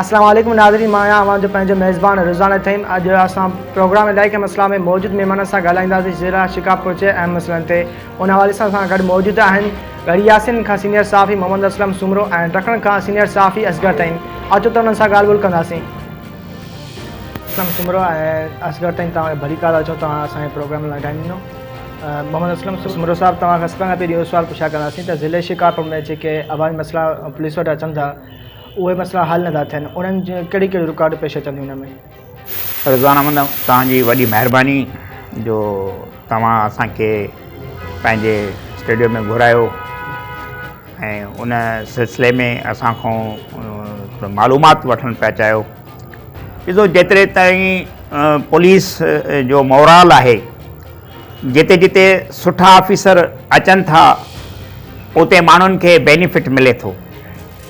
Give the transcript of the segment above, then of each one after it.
اسلام عليڪم ناظرين مان آهيان اوهان جو پنهنجو ميزبان رضوان اٿيم اڄ اسان پروگرام الائي ڪنهن مسئلا ۾ موجود مهمانن سان ڳالهائينداسين جيرا شڪاف پهچي اهم مسئلن تي ان حوالي سان اسان گڏ موجود آهن ڳڙهي ياسين کان سينيئر صحافي محمد اسلم سومرو ۽ ٽکڻ کان سينيئر صحافي اصغر تائين اچو ته انهن سان ڳالهه ٻولهه ڪنداسين اسلم سومرو ۽ اصغر تائين توهان کي ڀلي ڪار اچو توهان اسان جي پروگرام لاء ٽائيم ڏنو محمد اسلم سومرو صاحب توهان کان سڀ کان پهرين اهو سوال پڇا ڪنداسين ته ضلعي شڪاف ۾ جيڪي عوامي مسئلا پوليس وٽ اچن ٿا اهي مسئلا حل نٿا ٿين انهن جي ڪهڙي ڪهڙي رڪاوٽون پيش اچن ٿيون ان ۾. رضوان احمد توهان جي وڏي مهرباني جو توهان اسان کي پنهنجي اسٽوڊيو ۾ گهرايو ۽ ان سلسلي ۾ اسان کان ٿورو معلومات وٺڻ پيا چاهيو ڏسو جيتري تائين پوليس جو مورال آهي جتي جتي سٺا آفيسر اچن ٿا اتي ماڻهن کي بينيفٽ ملي ٿو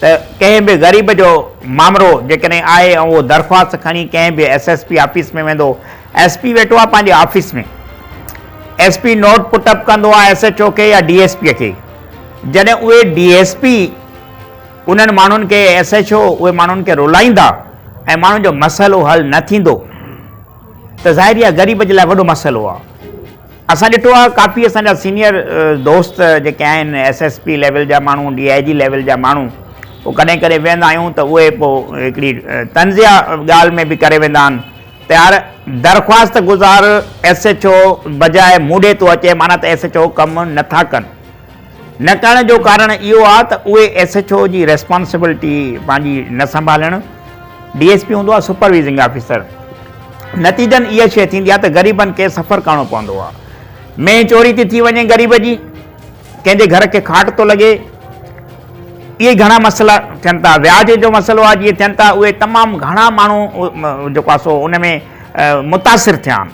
ته ڪنهن به غريب جو مامرو جيڪڏهن آهي ۽ اهو درخواست کڻي ڪنهن به ايس ايس پي آفيس ۾ ويندو، ايس پي ويٺو آهي پنهنجي office ۾، S P note put up ڪندو آهي ايس ايڇ او کي يا ڊي ايس پي کي، جڏهن اهي ڊي ايس پي انهن ماڻهن کي ايس ايڇ او اهي ماڻهن کي رلائيندا ۽ ماڻهن جو مسئلو حل نه ٿيندو ته ظاهري آهي غريب جي لاء وڏو مسئلو آهي. اسان ڏٺو آهي ڪافي اسان جا سينيئر دوست جيڪي آهن ايس ايس پي ليول جا ماڻهو ڊي آء جي ليول جا ماڻهو پوء ڪڏهن ڪڏهن ويهندا آهيون ته اهي پوء هڪڙي طنزيه ڳالهه ۾ به ڪري ويندا آهن ته يار درخواست گذار ايس ايڇ او بجاء مون ڏي ٿو اچي معنيٰ ته ايس ايڇ او ڪم نٿا ڪن نه ڪرڻ جو ڪارڻ اهو آهي ته اهي ايس ايڇ او جي ريسپانسبلٽي پنهنجي نه سنڀالڻ، ڊي ايس پي هوندو آهي سپروائزنگ آفيسر، نتيجن اها شيء ٿيندي آهي ته غريبن کي سفر ڪرڻو پوندو آهي، مينهن چوري ٿي ٿي وڃي غريب جي، ڪنهن جي گهر کي کاٽ ٿو لڳي، اهي گهڻا مسئلا ٿين ٿا، وياج جو مسئلو آهي جيئن ٿين ٿا اهي تمام گهڻا ماڻهو جيڪو آهي سو ان ۾ متاثر ٿيا آهن.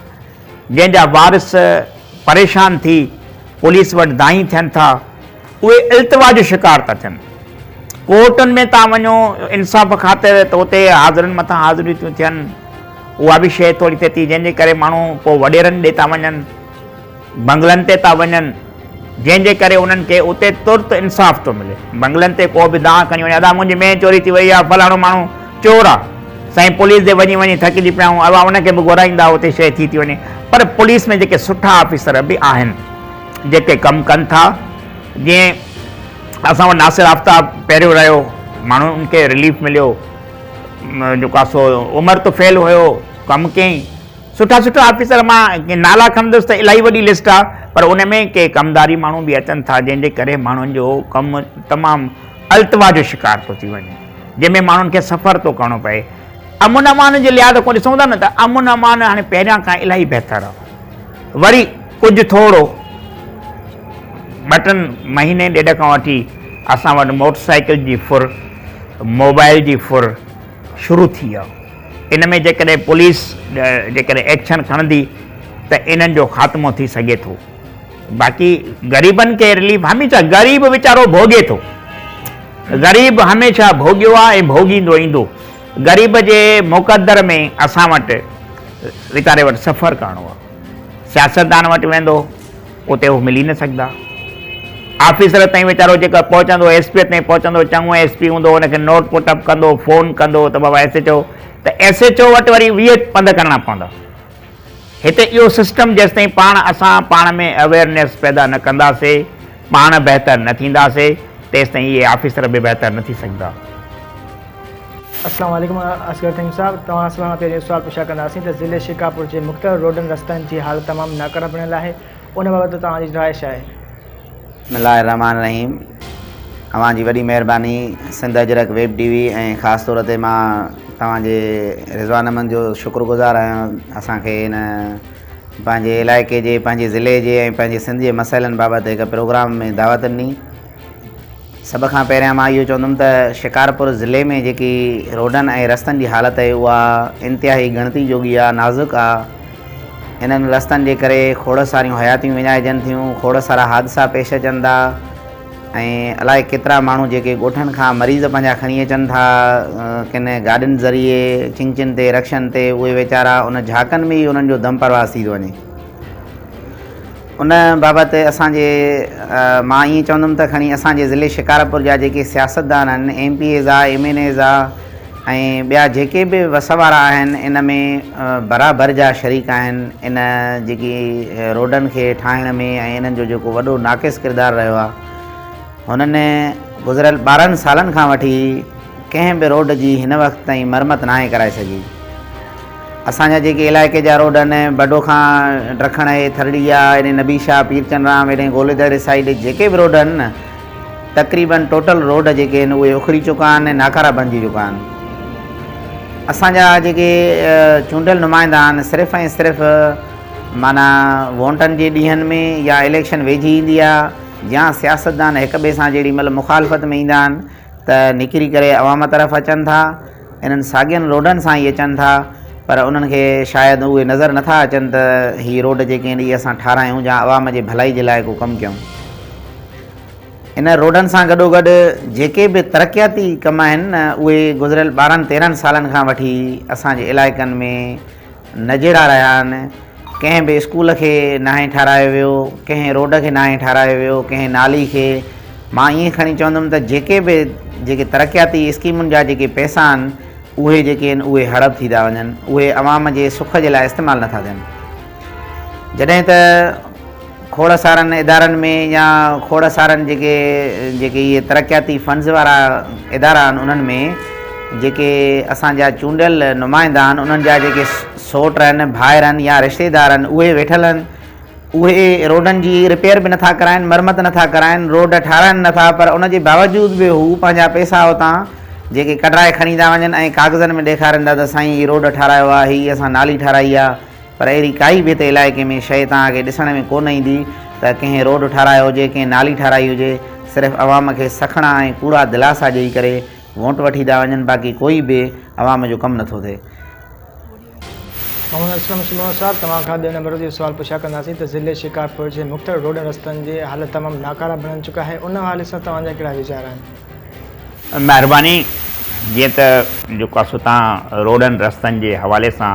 جنهن جا وارث پريشان ٿي پوليس وٽ دانهين ٿين ٿا، اهي التوا جو شڪار ٿا ٿين. ڪورٽن ۾ تان وڃو انصاف خاطر ته اتي حاضرين مٿان حاضريون ٿيون ٿين، اها به شيء ٿوري ٿئي ٿي، جنهن جي ڪري ماڻهو پوء وڏيرن ڏي ٿا وڃن، بنگلن تي ٿا وڃن. جنهن جي ڪري انهن کي اتي ترت انصاف ٿو ملي. بنگلن تي ڪو به دانهن کڻي وڃي، ادا منهنجي مين چوري ٿي وئي آ، فلاڻو ماڻهو چور آ. سائين پوليس ڏي وڃي وڃي ٿڪجي پيا آهيون، ادا ان کي به گهرائيندا اتي شيء ٿي ٿي وڃي. پر پوليس ۾ جيڪي سٺا آفيسر به آهن، جيڪي ڪم ڪن ٿا، جيئن اسان وٽ ناصر آفتاب پهريون رهيو، ماڻهن کي رليف مليو، جو ڪا سو عمر طفيل هيو، ڪم ڪيائين. سٺا سٺا آفيسر مان نالا کڻندس ته الاهي وڏي لسٽ آ پر ان ۾ ڪي ڪمداري ماڻهو به اچن ٿا جنهن جي ڪري ماڻهن جو ڪم تمام التوا جو شڪار ٿو ٿي وڃي جنهن ۾ ماڻهن کي سفر ٿو ڪرڻو پئي امن امان جي لحاظ کان ڏسون ٿا نه ته امن امان هاڻي پهريان کان الاهي بهتر آ وري ڪجهه ٿورو ٻه ٽن مهيني ڏيڍ کان وٺي اسان وٽ موٽر سائيڪل جي ڦر موبائل جي ڦر شروع ٿي ويو ان ۾ جيڪڏهن پوليس جيڪڏهن ايڪشن کڻندي ته انهن جو خاتمو ٿي سگهي ٿو باقي غريبن کي رليف هميشه غريب ويچارو ڀوڳي ٿو غريب هميشه ڀوڳيو آهي ۽ ڀوڳيندو ايندو غريب جي مقدر ۾ اسان وٽ ويچاري وٽ سفر ڪرڻو آهي سياستدان وٽ ويندو اتي هو ملي نه سگهندا. آفيسر تائين ويچارو جيڪر پهچندو، ايس پيء تائين پهچندو، چڱو ايس پي هوندو، هن کي نوٽ پٽ اپ ڪندو، فون ڪندو ته بابا ايس ايڇ او، ته ايس ايڇ او وٽ وري ويهه پنڌ ڪرڻا پوندا. هتي اهو سسٽم جيستائين پاڻ اسان پاڻ ۾ اويئرنيس پيدا نه ڪنداسي، پاڻ بهتر نه ٿينداسي، تيستائين اهي آفيسر به بهتر نه ٿي سگهندا. السلام عليڪم اصغر فهيم صاحب توهان سان پهرين اهو سوال پڇا ڪنداسين ته ضلعي شڪارپور جي مختلف روڊن رستن جي حالت تمام ناڪاره بڻيل آهي ان بابت توهان جي راء ڇا آهي؟ بسم الله الرحمٰن الرحيم اوهان جي وڏي مهرباني Sindh Ajrak web T V ۽ خاص طور تي مان توهان جي رضوان احمد جو شڪر گذار آهيان اسان کي هن پنهنجي علائقي جي پنهنجي ضلعي جي ۽ پنهنجي سنڌ جي مسئلن بابت هڪ پروگرام ۾ دعوت ڏني سڀ کان پهريان مان اهو چوندم ته شڪارپور ضلعي ۾ جيڪي روڊن ۽ رستن جي حالت آهي اها انتهائي ڳڻتي جوڳي آهي نازڪ آهي انهن رستن جي ڪري کوڙ ساريون حياتيون وڃائجن ٿيون کوڙ سارا حادثا پيش اچن ٿا ۽ الائي ڪيترا ماڻهو جيڪي ڳوٺن کان مريض پنهنجا کڻي اچن ٿا ڪن گاڏين ذريعي چنگچين تي رڪشن تي اهي ويچارا ان جھاڪن ۾ ئي انهن جو دم پرواز ٿي ٿو وڃي ان بابت اسان جي مان ائين چوندم ته کڻي اسان جي ضلعي شڪارپور جا جيڪي سياستدان آهن ايم پي ايز آ ايم اين ايز آ ۽ ٻيا جيڪي به وس وارا آهن ان ۾ برابر جا شريڪ آهن ان جيڪي روڊن کي ٺاهڻ ۾ ۽ انهن جو جيڪو وڏو ناقص ڪردار رهيو آهي هنن گذريل ٻارهن سالن کان وٺي ڪنهن به روڊ جي هن وقت تائين مرمت ناهي ڪرائي سگهي اسان جا جيڪي علائقي جا روڊ آهن، بڊو کان ڊرکڻ هي ٿرڙيا، هيڏي نبي شاهه، پير چنرام، هيڏي گولي دڙي سائيڊ جيڪي به روڊ آهن نه تقريبن ٽوٽل روڊ جيڪي آهن اهي اکري چڪا آهن ۽ ناڪارا بنجي چڪا آهن. اسان جا جيڪي چونڊيل نمائندا آهن صرف ۽ صرف معنيٰ وونٽن جي ڏينهن ۾ يا اليڪشن ويجهي ايندي آهي جيا سياستدان هڪ ٻئي سان جيڏي مهل مخالفت ۾ ايندا آهن ته نڪري ڪري عوام طرف اچن ٿا. انهن ساڳين روڊن سان ئي اچن ٿا پر انهن کي شايد اهي نظر نه ٿا اچن ته هي روڊ جيڪي اهي اسان ٺارايون جا عوام جي ڀلائي جي لاء ڪو ڪم ڪيون. انهن روڊن سان گڏوگڏ جيڪي به ترقياتي ڪم آهن اهي گذريل ٻارهن تيرهن سالن کان وٺي اسان جي علائقن ۾ نجيرا رهيا آهن، ڪنهن به اسڪول کي ناهي ٺهرايو ويو، ڪنهن روڊ کي ناهي ٺهرايو ويو، ڪنهن نالي کي، مان ائين کڻي چوندم ته جيڪي به جيڪي ترقياتي اسڪيمن جا جيڪي پئسا آهن اهي جيڪي آهن اهي هڙپ ٿي ٿا وڃن، اهي عوام جي سک جي لاء استعمال نٿا ٿين. جڏهن ته. کوڙ سارن ادارن ۾ يا کوڙ سارن جيڪي جيڪي اهي ترقياتي فنڊز وارا ادارا آهن انهن ۾ جيڪي اسان جا چونڊيل نمائندا آهن انهن جا جيڪي سوٽ آهن ڀائر آهن يا رشتيدار آهن اهي ويٺل آهن اهي روڊن جي رپيئر به نٿا ڪرائن مرمت نٿا ڪرائن روڊ ٺاراهن نٿا پر ان جي باوجود به هو پنهنجا پئسا اتان جيڪي ڪڍرائي کڻي ٿا وڃن ۽ ڪاغذن ۾ ڏيکارين ٿا ته سائين هي روڊ ٺاراهيو آهي هي اسان نالي ٺاراهي آهي پر اهڙي ڪائي ڀت علائقي ۾ شيء توهان کي ڏسڻ ۾ ڪونه ايندي ته ڪنهن روڊ ٺاهرايو هجي، ڪنهن نالي ٺاهرائي هجي. صرف عوام کي سکڻا ۽ ڪوڙا دلاسا ڏيئي ڪري وونٽ وٺي ٿا وڃن، باقي ڪوئي به عوام جو ڪم نٿو ٿئي. محمد اسلم سميون صاحب توهان کان ٻئي نمبر جو سوال پڇا ڪنداسين ته ضلعي شڪارپور جي مختلف روڊن رستن جي حالت تمام ناڪاره بڻن چڪا آهي ان حوالي سان توهان جا ڪهڙا ويچار آهن؟ مهرباني جيئن ته جيڪو آسو تان روڊن رستن جي حوالي سان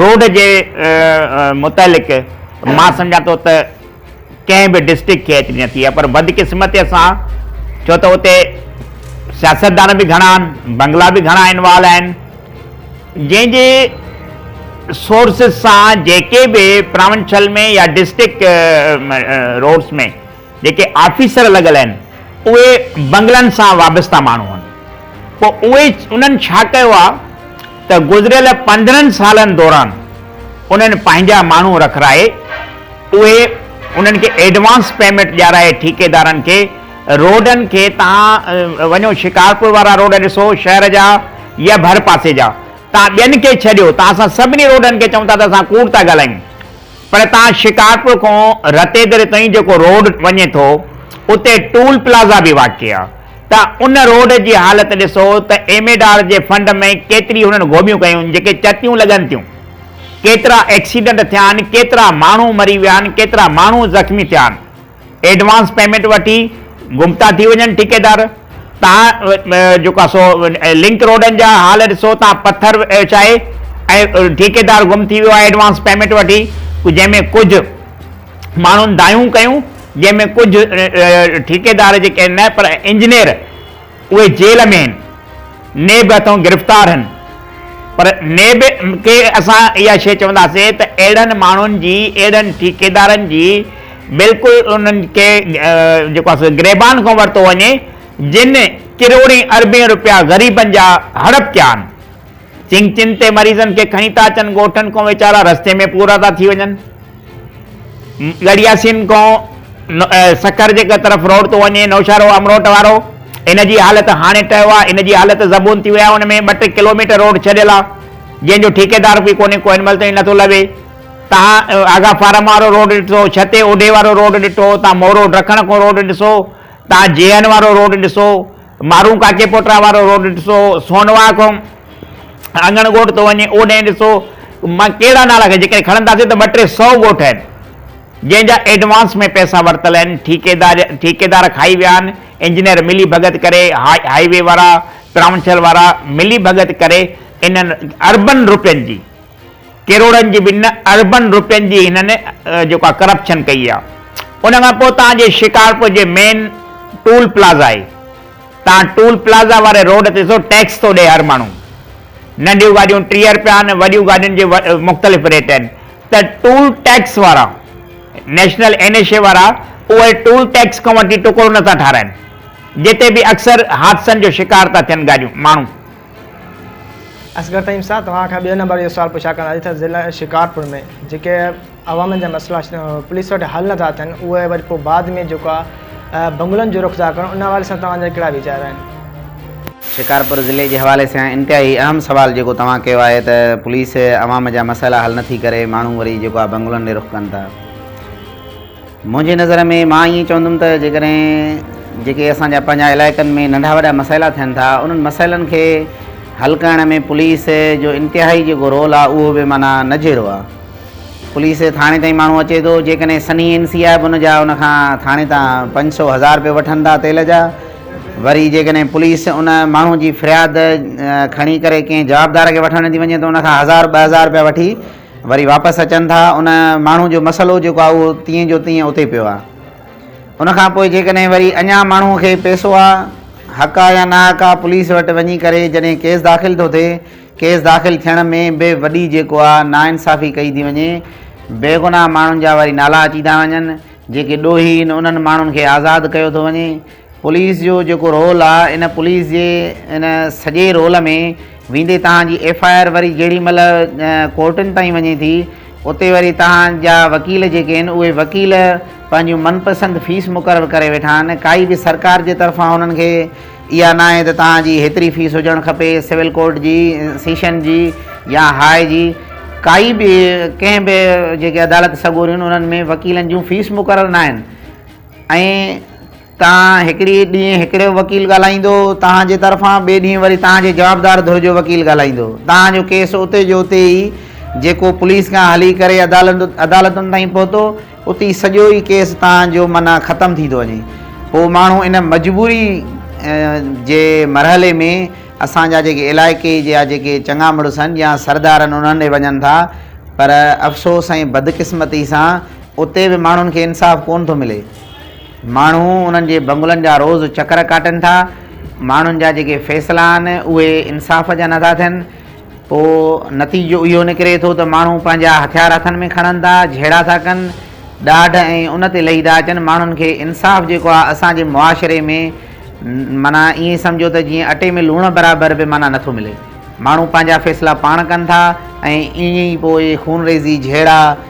روڊ جي متعلق مان سمجهان ٿو ته ڪنهن به ڊسٽرڪٽ کي ايتري نه ٿي آهي پر بدقسمتيء سان ڇو ته اتي سياستدان به گهڻا آهن، بنگلا به گهڻا انوالو آهن، جنهن جي سورسز سان جيڪي به پراونشل ۾ يا ڊسٽرڪٽ روڊس ۾. جيڪي آفيسر لڳل آهن اهي بنگلن سان وابسته ماڻهو آهن پوء اهي انهن ڇا ڪيو آهي ته گذريل پندرهن سالن دوران انهن پنهنجا ماڻهو رکرائي اهي انهن کي ايڊوانس پيمينٽ ڏيارائي ٺيڪيدارن کي روڊن کي تان وڃو شڪارپور وارا روڊ ڏسو شهر جا يا ڀر پاسي جا تان ٻين کي ڇڏيو تان اسان سڀني روڊن کي چئون ٿا ته اسان ڪوڙ ٿا ڳالهايون پر تان شڪارپور کان رتيدري تائين جيڪو روڊ وڃي ٿو اتي ٽول پلازا به واقع آ ته ان روڊ جي حالت ڏسو ته ايم ايڊ آر جي فنڊ ۾ ڪيتري هنن گهوٻيون ڪيون جيڪي چتيون لڳن ٿيون ڪيترا ايڪسيڊنٽ ٿيا آهن ڪيترا ماڻهو مري ويا آهن ڪيترا ماڻهو زخمي ٿيا آهن. ايڊوانس پيمينٽ وٺي گمتا ٿي وڃن ٺيڪيدار توهان جيڪو آهي سو لنڪ روڊن جا حال ڏسو توهان پٿر وڇائي ۽ ٺيڪيدار گم ٿي ويو آهي ايڊوانس پيمينٽ وٺي جنهن ۾ ڪجهه ماڻهن دانهيون ڪيون جنهن ۾ ڪجهه ٺيڪيدار جيڪي نه پر انجنيئر اهي جيل ۾ هن، نيب هٿون گرفتار هن، پر نيب کي اسان اها شيء چونداسين ته اهڙن ماڻهن جي، اهڙن ٺيڪيدارن جي بلڪل انهن کي جيڪو آهي سو گريبان کان ورتو وڃي، جن ڪروڙين اربين روپيا غريبن جا هڙپ ڪيا آهن. چنگ چن تي مريضن کي کڻي ٿا اچن، ڳوٺن کان ويچارا رستي ۾ پورا ٿا ٿي وڃن. ڳڙهياسين کان سکر جي طرف روڊ ٿو وڃي، نوشهرو امروٽ وارو، ان جي حالت هاڻي ٽهيو آهي، ان جي حالت زبون ٿي وئي آهي، ان ۾ ٻه ٽي ڪلوميٽر روڊ ڇڏيل آهي، جنهن جو ٺيڪيدار به ڪونهي، ڪو هن مهل تائين نٿو لهي. توهان آغا فارم وارو روڊ ڏٺو، ڇتي اوڍي وارو روڊ ڏٺو، توهان مورو ڊکڻ کان روڊ ڏسو، توهان جيهن وارو روڊ ڏسو، مارون ڪاڪي پوٽرا وارو روڊ ڏسو، سونوا کان اڱڻ ڳوٺ ٿو وڃي، اوڏانهن ڏسو مان ڪهڙا نالا کڻان، جيڪڏهن کڻنداسين ته ٻه ٽي سؤ ڳوٺ آهن، جنهن جا ايڊوانس ۾ پئسا ورتل آهن، ٺيڪيدار کائي ويا آهن، انجنيئر ملي ڀڳت ڪري، هاء وي وارا، ترانڇل وارا ملي ڀڳت ڪري انهن اربن روپين جي. ڪروڙن جي به نه اربن روپين جي هنن جيڪا ڪرپشن ڪئي آ ان کان پوء تان جي شڪارپور جي مين ٽول پلازا آهي تان ٽول پلازا واري روڊ تي ڏسو ٽيڪس ٿو ڏي هر ماڻهو ننڍيون گاڏيون ٽيهه روپيا آهن وڏيون گاڏين جي مختلف ريٽ آهن ته ٽول ٽيڪس وارا نيشنل اين ايش اي وارا اهي ٽول ٽيڪس کان وٺي ٽڪرو نٿا ٺارائن جتي به اڪثر حادثن جو شڪار ٿا ٿين گاڏيون ماڻهو اصغر تعيم صاحب توهان کان ٻئي نمبر اهو سوال پڇا ڪرڻ آئي ته ضلع شڪارپور ۾ جيڪي عوامن جا مسئلا پوليس وٽ حل نٿا ٿين اهي وري پوء بعد ۾ جيڪو آهي بنگلن جو رخ ٿا ڪرن ان حوالي سان توهان جا ڪهڙا ويچار آهن؟ شڪارپور ضلعي جي حوالي سان انتهائي اهم سوال جيڪو توهان ڪيو آهي ته پوليس عوام جا مسئلا حل نٿي ڪري ماڻهو وري جيڪو آهي بنگلن ڏي رخ ڪن ٿا. منهنجي نظر ۾ مان ائين چوندم ته جيڪڏهن جيڪي اسان جا پنهنجا علائقن ۾ ننڍا وڏا مسئلا ٿين ٿا انهن مسئلن کي حل ڪرڻ ۾ پوليس جو انتهائي جيڪو رول آهي اهو به معنيٰ نجهرو آهي پوليس ٿاڻي تائين ماڻهو اچي ٿو جيڪڏهن سنهي اين سي آهي به ان جا ان کان ٿاڻي تان پنج سو هزار روپيا وٺن ٿا تيل جا وري جيڪڏهن پوليس ان ماڻهو جي فرياد کڻي ڪري ڪنهن جوابدار کي وٺڻ ٿي وڃي ته ان کان هزار ٻه هزار روپيا وٺي وري واپس اچن ٿا ان ماڻهو جو مسئلو جيڪو آهي اهو تيئن جو تيئن اتي پيو آهي ان کان پوء جيڪڏهن وري اڃا ماڻهو کي پيسو آهي حق آهي يا ناحق آهي پوليس وٽ وڃي ڪري جڏهن ڪيس داخل ٿو ٿئي ڪيس داخل ٿيڻ ۾ به وڏي جيڪو آهي ناانصافي ڪئي ٿي وڃي بيگناهه ماڻهن جا وري نالا اچي ٿا وڃن جيڪي ڏوهي انهن ماڻهن کي آزاد ڪيو ٿو وڃي پوليس جو جيڪو رول آ ان پوليس جي ان سڄي رول ۾ ويندي توهان جي ايف آء آر وري جيڙي مهل ڪورٽن تائين وڃي ٿي اتي وري توهان جا وڪيل جيڪي آهن اهي وڪيل پنهنجون من پسند فيس مقرر ڪري ويٺا آهن ڪائي به سرڪار جي طرفان انهن کي اها ناهي ته توهان جي هيتري فيس هجڻ کپي سول ڪورٽ جي سيشن جي يا هاء جي ڪائي به ڪنهن به جيڪي عدالت سڳوريون انهن ۾ وڪيلن جون فيس مقرر ناهن ۽ تان هڪڙي ڏينهن هڪڙي جو وڪيل ڳالهائيندو، تان جي طرفان ٻئي ڏينهن وري تان جي جوابدار ڌر جو وڪيل ڳالهائيندو. تان جو ڪيس اتي جو اتي ئي جيڪو پوليس کان هلي ڪري عدالتن تائين پهتو، اتي سڄو ئي ڪيس تان جو معنيٰ ختم ٿي ٿو وڃي. پوء ماڻهو ان مجبوري جي مرحلي ۾ اسان جا جيڪي علائقي جا جيڪي چڱا مڙس آهن يا سردار آهن انهن ڏي وڃن ٿا پر افسوس ۽ بدقسمتي سان اتي به ماڻهن کي انصاف ڪونه ٿو ملي. ماڻهو انهن جي بنگلن جا روز چڪر ڪاٽين ٿا. ماڻهن جا جيڪي فيصلا آهن اهي انصاف جا نٿا ٿين. پوء نتيجو اهو نڪري ٿو ته ماڻهو پنهنجا هٿيار هٿن ۾ کڻن ٿا، جهيڙا ٿا ڪن، ڏاڍ ۽ ان تي لهي ٿا اچن. ماڻهن کي انصاف جيڪو آهي اسان جي معاشري ۾ معنيٰ ائين سمجهو ته جيئن اٽي ۾ لوڻ برابر به معنيٰ نٿو ملي. ماڻهو پنهنجا فيصلا پاڻ ڪن ٿا ۽ ائين ئي پوء خونريزي، جهيڙا،